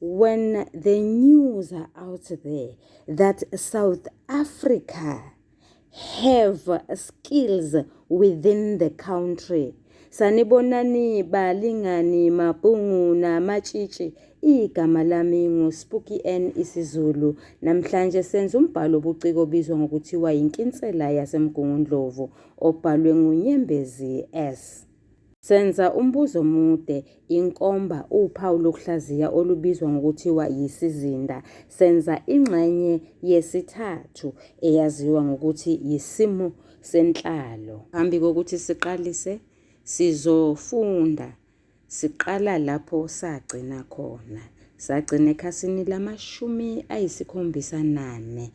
When the news are out there that South Africa have skills within the country sanibonani balingani mabhungu namatshitshi igama lami nguSpooky N isiZulu namhlanje senza umbhalo obuciko obizwa ngokuthiwa yinkinsela yasemgungundlovu obhalwe ngunyembezi S Senza umbuzo omude. Inkomba uphawu lokuhlaziya olubizwa ngokuthiwa yisizinda. Senza ingxenye yesithathu eyaziwa ngokuthi yisimo senhlalo. Phambi kokuthi siqalise, sizofunda siqala lapho sagcina khona. Sagcina ekhasini lamashumi ayisikhombisa nane.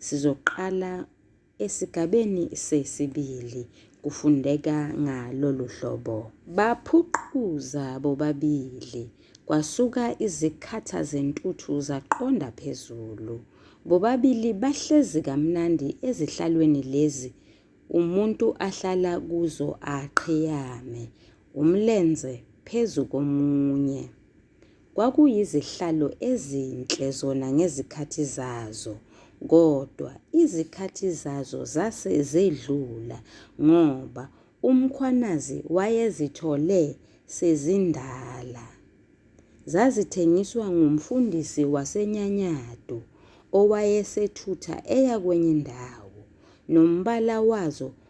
Sizoqala Esigabeni sesibili kufundeka ngalolu hlobo. Baphuquza bobabili, kwasuka izikhatha zentuthu zaqonda phezulu. Bobabili bahlezi kamnandi ezihlalweni lezi umuntu ahlala kuzo aqhiyame, umlenze phezu komunye. Kwakuyizihlalo ezinhle zona ngezikhathi zazo, kodwa izikhathi zazo zase zedlula ngoba uMkhwanazi wayezithole sezindala. Zazithengiswa ngumfundisi waseNyanyadu owayesethutha eya kwenye indawo, nombala wazo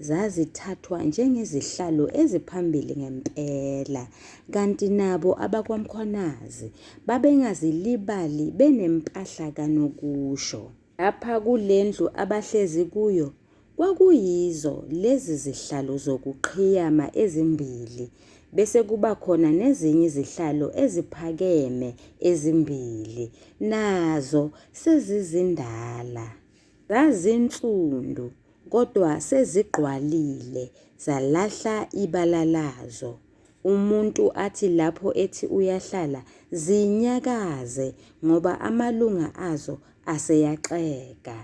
zazithathwa njengezihlalo eziphambili ngempela, kanti nabo abakwaMkhwanazi babengazilibali benempahla kanokusho. Lapha kule ndlu abahlezi kuyo kwakuyizo lezi zihlalo zokuqhiyama ezimbili bese kuba khona nezinye izihlalo eziphakeme ezimbili nazo sezizindala. Zazinsundu kodwa sezigqwalile zalahla ibala lazo. Umuntu athi lapho ethi uyahlala zinyakaze ngoba amalunga azo aseyaxega.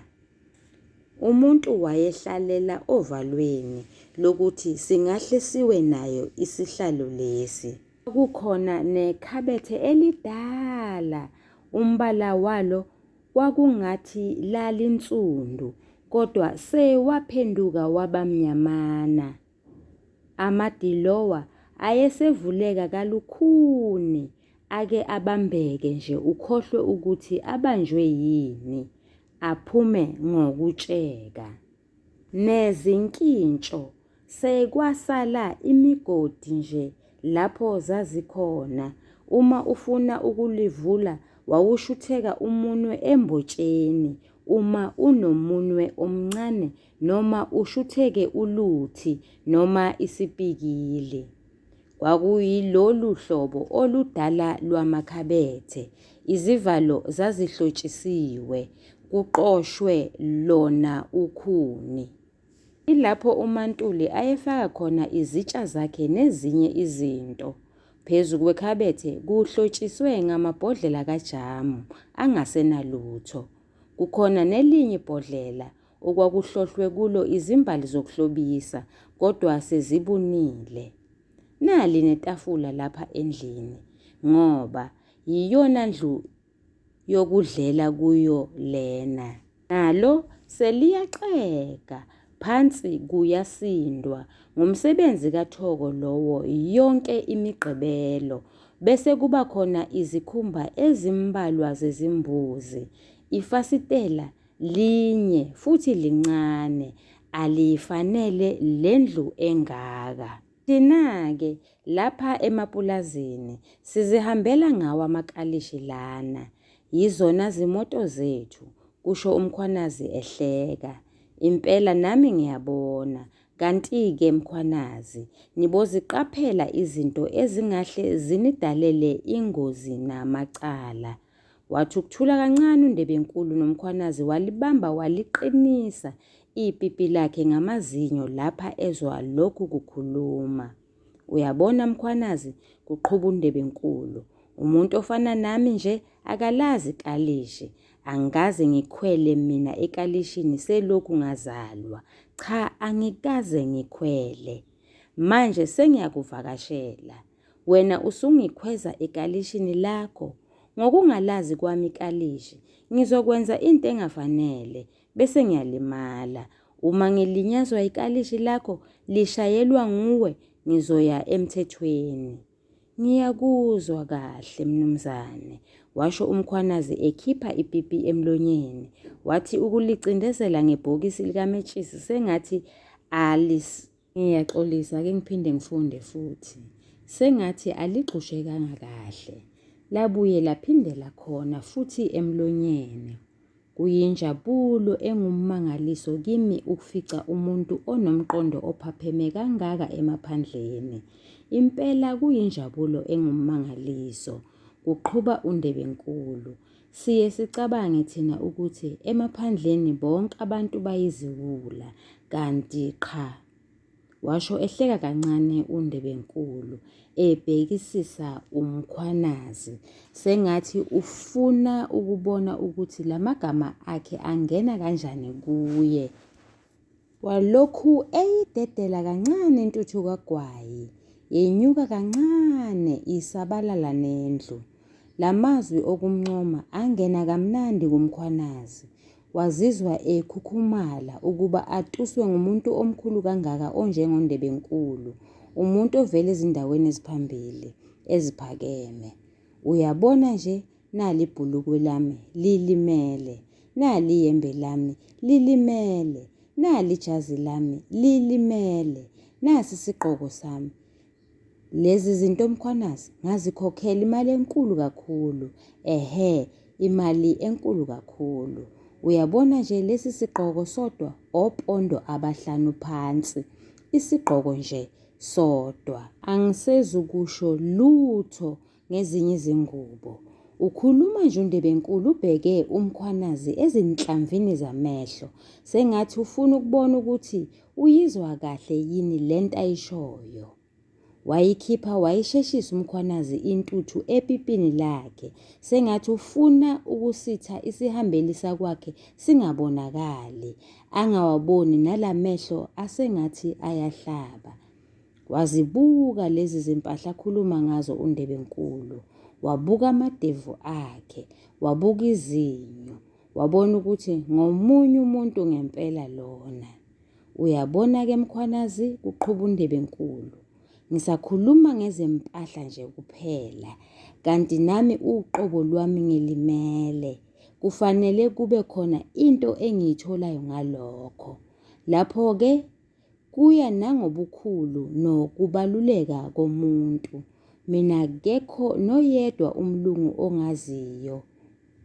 Umuntu wayehlalela ovalweni lokuthi singahle siwe nayo isihlalo lesi. Kukhona nekhabethe elidala umbala walo kwakungathi lalinsundu kodwa sewaphenduka wabamnyamana. Amadilowa ayesevuleka kalukhuni ake abambeke nje ukhohlwe ukuthi abanjwe yini, aphume ngokutsheka. Nezinkintsho sekwasala imigodi nje lapho zazikhona. Uma ufuna ukulivula wawushutheka umunwe embotsheni uma unomunwe omncane noma ushutheke uluthi noma isipikili. Kwakuyilolu hlobo oludala lwamakhabethe, izivalo zazihlotshisiwe, kuqoshwe lona ukhuni. Ilapho uMaNtuli ayefaka khona izitsha zakhe nezinye izinto. Phezu kwekhabethe kuhlotshiswe ngamabhodlela kajamu angasenalutho. Kukhona nelinye ibhodlela okwakuhlohlwe kulo izimbali zokuhlobisa kodwa sezibunile. Nali netafula lapha endlini ngoba yiyona ndlu yokudlela kuyo lena. Nalo seliyaxega phansi kuyasindwa ngumsebenzi kaThoko lowo yonke imigqibelo bese kuba khona izikhumba ezimbalwa zezimbuzi ifasitela Linye futhi lincane, aliyifanele le ndlu engaka. Thina-ke lapha emapulazini sizihambela ngawo amakalishi lana. Yizona zimoto zethu, kusho uMkhwanazi ehleka. Impela nami ngiyabona. Kanti-ke Mkhwanazi, niboziqaphela izinto ezingahle zinidalele ingozi namacala. Wathi ukuthula kancane uNdebenkulu noMkhwanazi walibamba waliqinisa ipipi lakhe ngamazinyo lapha ezwa lokhu kukhuluma. Uyabona Mkhwanazi, kuqhuba uNdebenkulu. Umuntu ofana nami nje akalazi kalishi. Angikaze ngikhwele mina ekalishini selokhu ngazalwa. Cha angikaze ngikhwele. Manje sengiyakuvakashela. Wena usungikhweza ekalishini lakho. Ngokungalazi kwami ikalishi, ngizokwenza into engafanele, bese ngiyalimala. Uma ngilinyazwa ikalishi lakho, lishayelwa nguwe, ngizoya emthethweni. Ngiyakuzwa kahle, mnumzane, washo uMkhwanazi ekhipha ipipi emlonyeni. Wathi ukulicindezela ngebhokisi likametshisi sengathi alis Ngiyaxolisa ake ngiphinde ngifunde futhi. Sengathi aligxushekanga kahle. Labuye laphindela khona futhi emlonyeni. Kuyinjabulo engummangaliso kimi ukufica umuntu onomqondo ophapheme kangaka emaphandleni. Impela kuyinjabulo engummangaliso, kuqhuba uNdebenkulu. Siye sicabange thina ukuthi emaphandleni bonke abantu bayiziwula kanti qha, washo ehleka kancane uNdebenkulu ebhekisisa uMkhwanazi sengathi ufuna ukubona ukuthi lamagama akhe angena kanjani kuye. Walokhu eyidedela kancane intuthu kagwayi, yenyuka kancane isabalala nendlu. La mazwi okumncoma angena kamnandi kuMkhwanazi. Wazizwa ekhukhumala ukuba atuswe ngumuntu omkhulu kangaka onjengoNdebenkulu, umuntu ovela ezindaweni eziphambili, eziphakeme. Uyabona nje, nali ibhulukwe lami lilimele nali iyembe lami lilimele nali ijazi lami lilimele nasi isigqoko sami lezi zinto mkhwanazi ngazikhokhela imali enkulu kakhulu ehe imali enkulu kakhulu uyabona nje lesi sigqoko sodwa opondo abahlanu phansi isigqoko nje sodwa angisezukusho lutho ngezinye izingubo. Ukhuluma nje uNdebenkulu ubheke uMkhwanazi ezinhlamvini zamehlo sengathi ufuna ukubona ukuthi uyizwa kahle yini le nto ayishoyo. Wayikhipha wayisheshisa uMkhwanazi intuthu epipini lakhe sengathi ufuna ukusitha isihambeli sakwakhe singabonakali, angawaboni nalamehlo asengathi ayahlaba. Wazibuka lezi zimpahla akhuluma ngazo uNdebenkulu. Wabuka amadevu akhe, wabuka izinyo, wabona ukuthi ngomunye umuntu ngempela lona. Uyabona-ke Mkhwanazi, kuqhuba uNdebenkulu. Ngisakhuluma ngezempahla nje kuphela, kanti nami uqobo lwami ngilimele. Kufanele kube khona into engiyitholayo ngalokho. Lapho-ke Kuya nangobukhulu nokubaluleka komuntu. Mina akekho noyedwa umlungu ongaziyo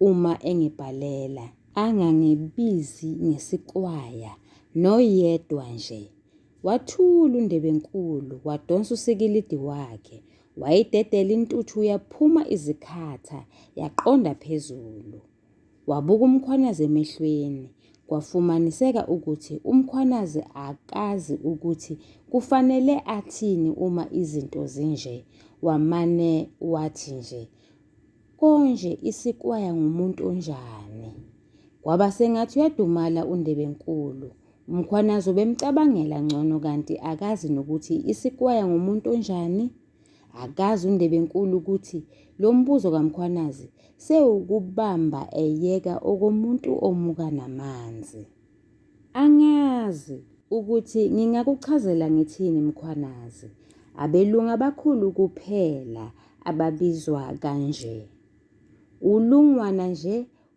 uma engibhalela. Angangibizi ngesiqwaya noyedwa nje. Wathula uNdebenkulu wadonsa usikilidi wakhe. Wayidedela intuthu yaphuma izikhatha yaqonda phezulu. Wabuka uMkhwanazi emehlweni. Kwafumaniseka ukuthi uMkhwanazi akazi ukuthi kufanele athini uma izinto zinje. Wamane wathi nje, Konje isikwaya ngumuntu onjani? Kwaba sengathi uyadumala uNdebenkulu. UMkhwanazi ubemcabangela ngcono kanti akazi nokuthi isikwaya ngumuntu onjani. Akazi uNdebenkulu ukuthi lo mbuzo kaMkhwanazi sewukubamba eyeka okomuntu omuka namanzi. Angazi ukuthi ngingakuchazela ngithini Mkhwanazi. Abelungu abakhulu kuphela ababizwa kanje. Ulungwana nje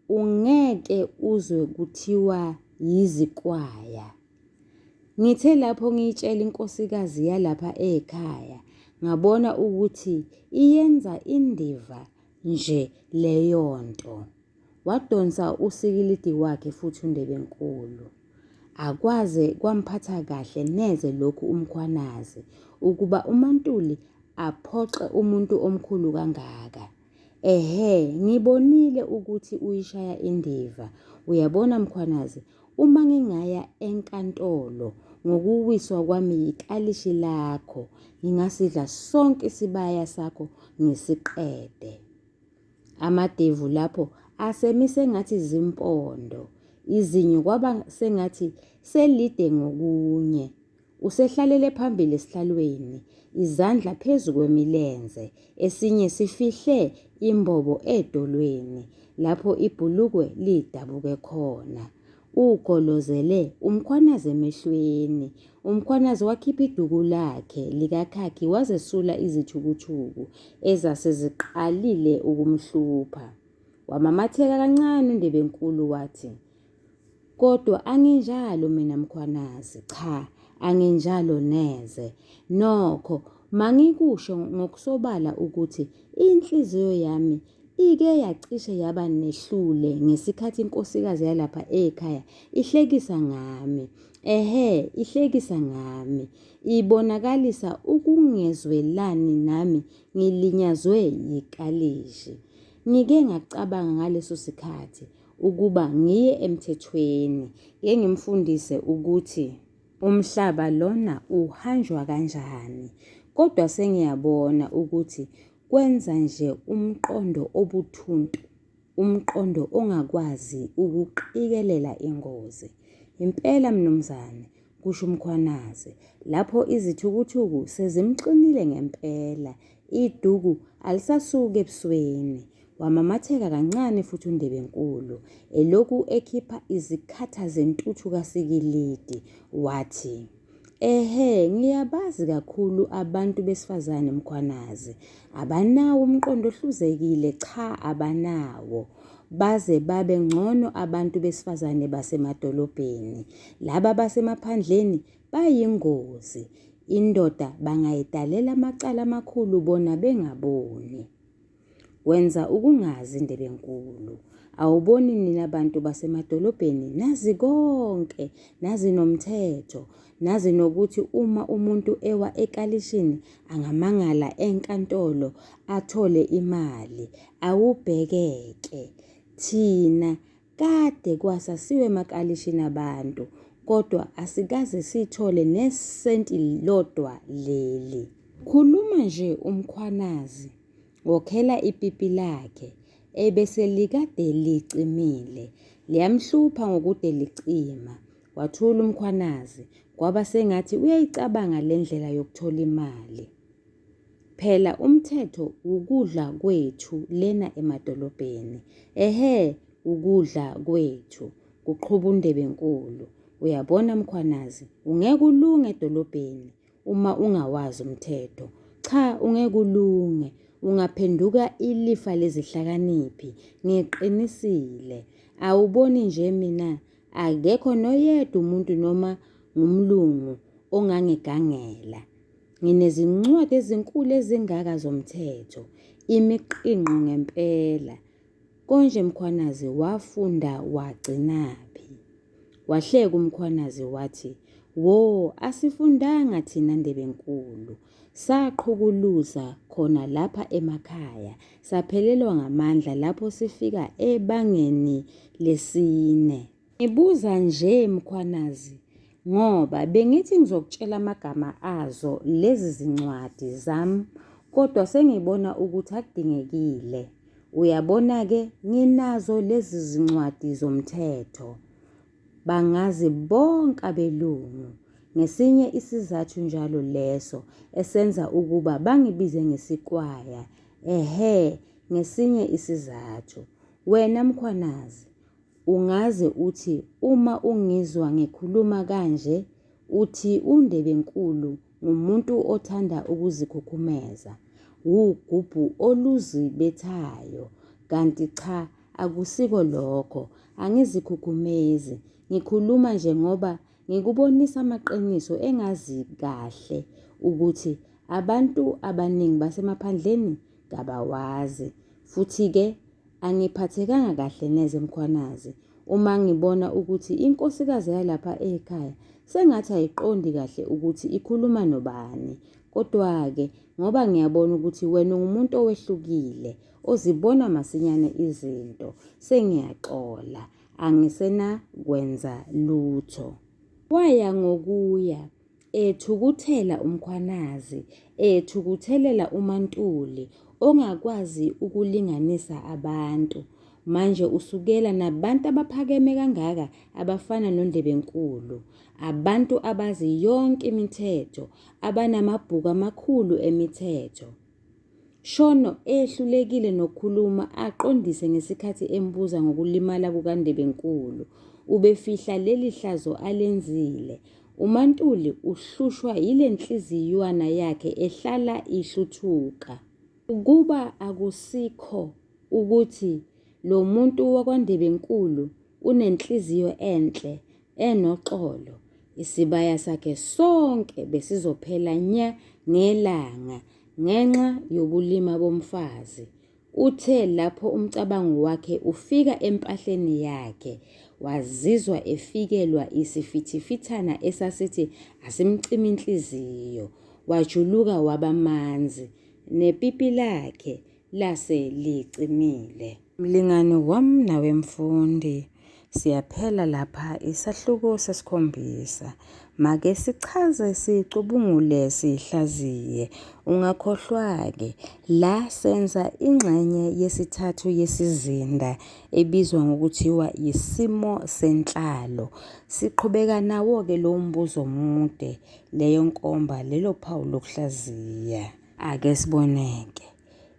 ungeke uzwe kuthiwa yizikwaya. Ngithe lapho ngiyitshela inkosikazi yalapha ekhaya ngabona ukuthi iyenza indiva nje leyo nto. Wadonsa usikilidi wakhe futhi uNdebenkulu. Akwaze kwamphatha kahle neze lokhu uMkhwanazi ukuba uMaNtuli aphoxe umuntu omkhulu kangaka. Ehhe ngibonile ukuthi uyishaya indiva. Uyabona Mkhwanazi, uma ngingaya enkantolo ngokuwiswa kwami yikalishi lakho, ngingasidla sonke isibaya sakho ngisiqede. Amadevu lapho asemise ngathi zimpondo, izinyo kwaba sengathi selide ngokunye. Usehlalele phambili esihlalweni, izandla phezu kwemilenze, esinye sifihle imbobo edolweni lapho ibhulukwe lidabuke khona. Ugolozele umkhwanazi emehlweni. Umkhwanazi wakhipha iduku lakhe likakhakhi wazesula izithukuthuku ezase ziqalile ukumhlupha. Wamamatheka kancane uNdebenkulu wathi, Kodwa anginjalo mina Mkhwanazi, cha anginjalo neze. Nokho mangikusho ngokusobala ukuthi inhliziyo yami ike yacishe yaba nehlule ngesikhathi inkosikazi yalapha ekhaya ihlekisa ngami. Ehhe, ihlekisa ngami. Ibonakalisa ukungezwelani nami ngilinyazwe yikalishi. Ngike ngacabanga ngaleso sikhathi ukuba ngiye emthethweni ngeke ngimfundise ukuthi umhlaba lona uhanjwa kanjani kodwa sengiyabona ukuthi kwenza nje umqondo obuthuntu umqondo ongakwazi ukuqikelela ingozi impela mnumzane kusho uMkhwanazi lapho izithukuthuku sezimxinile ngempela, iduku alisasuki ebusweni. Wamamatheka kancane futhi uNdebenkulu, elokhu ekhipha izikhatha zentuthu kasikilidi, wathi, Ehhe, ngiyabazi kakhulu abantu besifazane Mkhwanazi. Abanawo umqondo ohluzekile, cha abanawo. baze babe ngcono abantu besifazane basemadolobheni. Laba basemaphandleni bayingozi. Indoda bangayidalela amacala amakhulu bona bengaboni. Wenza ukungazi Ndebenkulu. Awuboni nina bantu basemadolobheni nazi konke, nazi nomthetho, Nazi nokuthi uma umuntu ewa ekalishini angamangala enkantolo athole imali. Awubhekeke. Thina kade kwasa siwe emakalishini abantu kodwa asikaze sithole nesenti lodwa leli. Khuluma nje uMkhwanazi ngokhela ipipi lakhe ebese likade licimile. Liyamhlupha ngokude licima. Wathula uMkhwanazi kwaba sengathi uyayicabanga le ndlela yokuthola imali. Phela umthetho wukudla kwethu lena emadolobheni. Ehhe ukudla kwethu, kuqhuba uNdebenkulu. Uyabona Mkhwanazi, ungeke ulunge edolobheni, Uma ungawazi umthetho, cha ungeke ulunge, ungaphenduka ilifa lezihlakaniphi. Ngiqinisile. Awuboni nje mina akekho noyedwa umuntu noma ngumlungu ongangigangela. Nginezincwadi ezinkulu ezingaka zomthetho, imiqingqo ngempela. Konje Mkhwanazi wafunda wagcinaphi? Wahleka uMkhwanazi wathi, Wo, asifundanga thina Ndebenkulu. Saqhukuluza khona lapha emakhaya, saphelelwa ngamandla lapho sifika ebangeni lesine. Ngibuza nje Mkhwanazi ngoba bengithi ngizokutshela amagama azo lezi zincwadi zami kodwa sengibona ukuthi akudingekile. Uyabona-ke nginazo lezi zincwadi zomthetho. Bangazi bonke abelungu. Ngesinye isizathu njalo leso esenza ukuba bangibize ngesikwaya. Ehhe, ngesinye isizathu. Wena Mkhwanazi, Ungaze uthi uma ungizwa ngikhuluma kanje uthi uNdebenkulu ngumuntu othanda ukuzikhukhumeza, wugubhu oluzibethayo kanti cha akusiko lokho, angizikhukhumezi ngikhuluma nje ngoba ngikubonisa amaqiniso engazi kahle ukuthi abantu abaningi basemaphandleni kabawazi futhi-ke Angiphathekanga kahle neze Mkhwanazi uma ngibona ukuthi inkosikazi yalapha ekhaya sengathi ayiqondi kahle ukuthi ikhuluma nobani. Kodwa-ke ngoba ngiyabona ukuthi wena ungumuntu owehlukile, ozibona masinyane izinto, sengiyaxola, angisenakwenza lutho. Waya ngokuya, Ethukuthela uMkhwanazi, ethukuthelela uMaNtuli ongakwazi ukulinganisa abantu. Manje usukela nabantu abaphakeme kangaka abafana noNdlebenkulu, abantu abazi yonke imithetho, abanamabhuku amakhulu emithetho. Shono ehlulekile nokukhuluma aqondise ngesikhathi embuza ngokulimala kukaNdebenkulu. Ubefihla leli hlazo alenzile. UMaNtuli uhlushwa yile nhliziywana yakhe ehlala ihluthuka. Ukuba akusikho ukuthi lo muntu wakwaNdebenkulu unenhliziyo enhle, enoxolo. Isibaya sakhe sonke besizophela nya ngelanga ngenxa yobulima bomfazi. Uthe lapho umcabango wakhe ufika empahleni yakhe, wazizwa efikelwa isifithifithana esasithi asimcimi inhliziyo. Wajuluka waba manzi, nepipi lakhe lase licimile. Mlingani wam nawe mfundi, siyaphela lapha isahluko sesikhombisa. Make sichaze sicubungule sihlaziye. Ungakhohlwa-ke, la senza ingxenye yesithathu yesizinda ebizwa ngokuthiwa yisimo senhlalo. Siqhubeka nawo-ke lowo mbuzo omude, leyo nkomba, lelo phawu lokuhlaziya. Ake siboneke.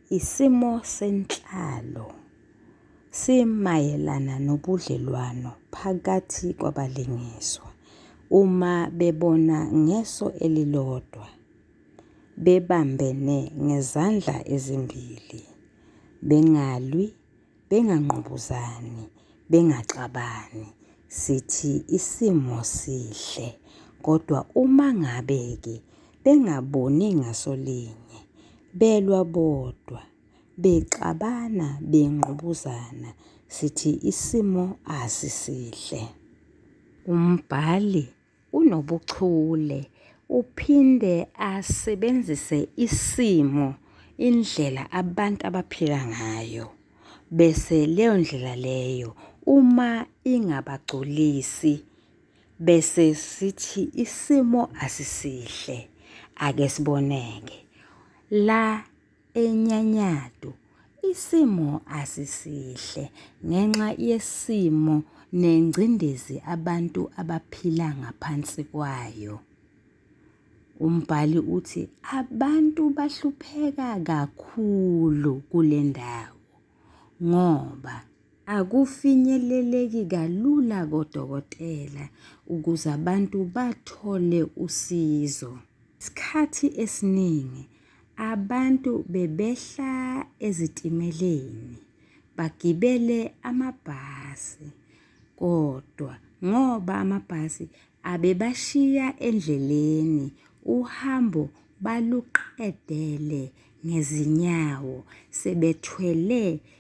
Isimo senhlalo simayelana nobudlelwano phakathi kwabalingiswa uma bebona ngeso elilodwa, bebambene ngezandla ezimbili, bengalwi bengangqubuzani, bengaxabani sithi isimo sihle kodwa uma ngabe-ke bengaboni ngasolinye, belwa bodwa, bexabana, bengqubuzana sithi isimo asisihle. Umbhali unobuchule uphinde asebenzise isimo indlela abantu abaphila ngayo bese leyo ndlela leyo uma ingabagculisi bese sithi isimo asisihle ake siboneke la eNyanyadu isimo asisihle ngenxa yesimo nengcindezi abantu abaphila ngaphansi kwayo. Umbhali uthi abantu bahlupheka kakhulu kule ndawo ngoba akufinyeleleki kalula kodokotela ukuze abantu bathole usizo. Isikhathi esiningi Abantu bebehla ezitimeleni bagibele amabhasi kodwa ngoba amabhasi abebashiya endleleni uhambo baluqedele ngezinyawo sebethwele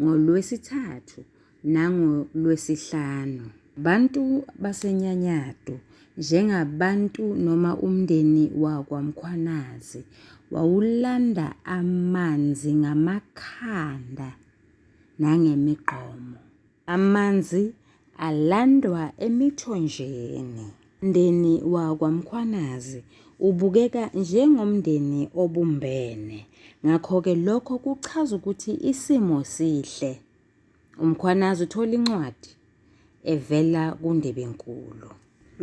ngoLwesithathu nangoLwesihlanu. Bantu baseNyanyadu njengabantu noma umndeni wakwaMkhwanazi wawulanda amanzi ngamakhanda nangemigqomo. Amanzi alandwa emithonjeni. Mndeni wakwaMkhwanazi ubukeka njengomndeni obumbene. Ngakho-ke lokho kuchaza ukuthi isimo sihle. UMkhwanazi uthola incwadi evela kuNdebenkulu.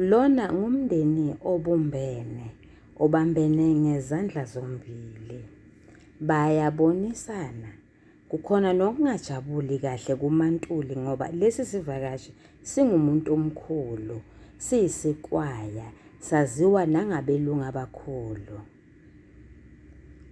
Lona ngumndeni obumbene, obambene ngezandla zombili. Bayabonisana. Kukhona nokungajabuli kahle kuMaNtuli ngoba lesi sivakashi singumuntu omkhulu, siyisikwaya, saziwa nangabelungu abakhulu.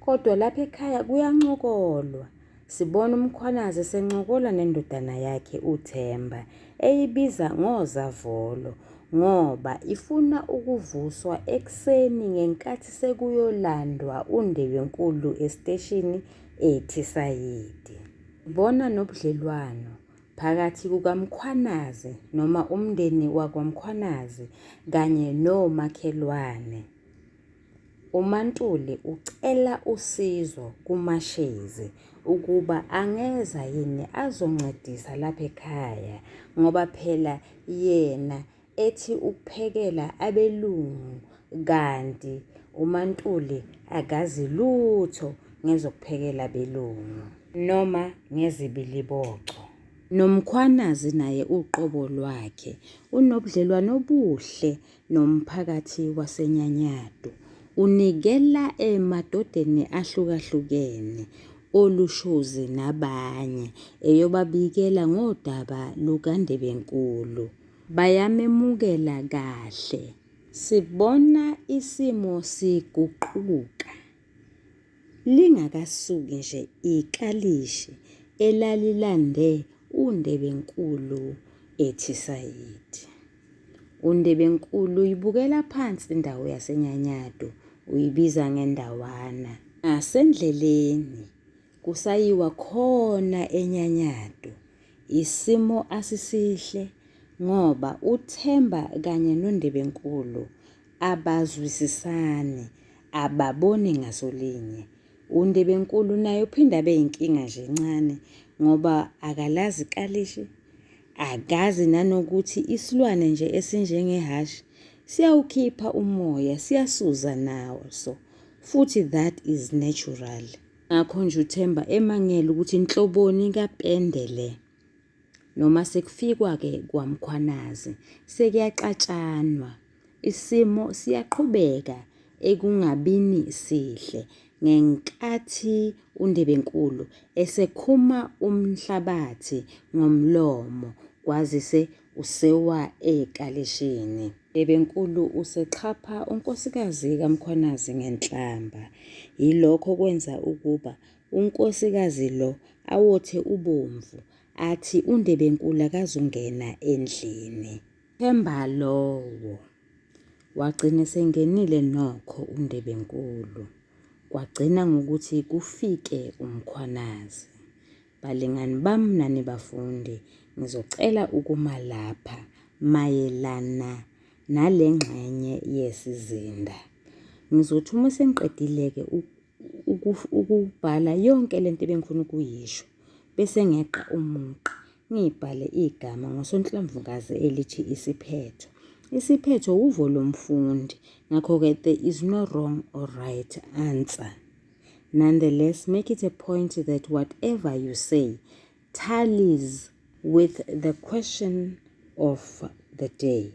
Kodwa lapha ekhaya kuyancokolwa. Sibona uMkhwanazi esencokola nendodana yakhe uThemba, eyibiza ngozavolo ngoba ifuna ukuvuswa ekuseni ngenkathi sekuyolandwa uNdebenkulu esiteshini eThisayidi. Sibona nobudlelwano phakathi kukaMkhwanazi noma umndeni wakwaMkhwanazi kanye nomakhelwane. UMaNtuli ucela usizo kuMaShezi ukuba angeza yini azoncedisa lapha ekhaya ngoba phela yena ethi ukuphekela abelungu kanti uMaNtuli akazi lutho ngezokuphekela abelungu noma ngezibiliboco. NoMkhwanazi naye uqobo lwakhe unobudlelwano obuhle nomphakathi waseNyanyadu. Unikela emadodeni ahlukahlukene olushozi nabanye eyobabikela ngodaba lukaNdebenkulu. Bayamemukela kahle. Sibona isimo siguquka. Lingakasuki nje ikalishi elalilande uNdebenkulu ethi sayidi. UNdebenkulu uyibukela phansi indawo yaseNyanyadu, uyibiza ngendawana. Ngasendleleni kusayiwa khona eNyanyadu. Isimo asisihle ngoba uThemba kanye noNdebenkulu abazwisisani, ababoni ngaso linye. UNdebenkulu naye uphinde abe yinkinga nje encane ngoba akalazi ikalishi, akazi nanokuthi isilwane nje esinjengehhashi siyawukhipha umoya, siyasuza naso futhi that is natural. Ngakho nje uThemba emangele ukuthi inhloboni kapende le. Noma sekufikwa-ke kwaMkhwanazi, sekuyaxatshanwa. Isimo siyaqhubeka ekungabini sihle ngenkathi uNdebenkulu esekhuma umhlabathi ngomlomo kwazise Usewa ekalishini. Bebenkulu usexhapha unkosikazi kaMkhwanazi ngenhlamba. Yilokho okwenza ukuba unkosikazi lo awothe ubomvu, athi uNdebenkulu akazungena endlini. Themba lowo. Wagcina esengenile nokho uNdebenkulu. Kwagcina ngokuthi kufike uMkhwanazi. Balingani bam nani bafundi, ngizocela ukuma lapha mayelana nale ngxenye yesizinda. Ngizothi uma sengiqedile-ke ukubhala yonke le nto ebengifuna ukuyisho, bese ngeqa umugqa, ngibhale igama ngosonhlamvukazi elithi isiphetho. Isiphetho wuvo lomfundi, ngakho-ke there is no wrong or right answer. Nonetheless, make it a point that whatever you say tallies with the question of the day.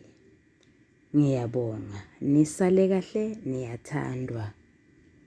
Ngiyabonga. Nisale kahle niyathandwa.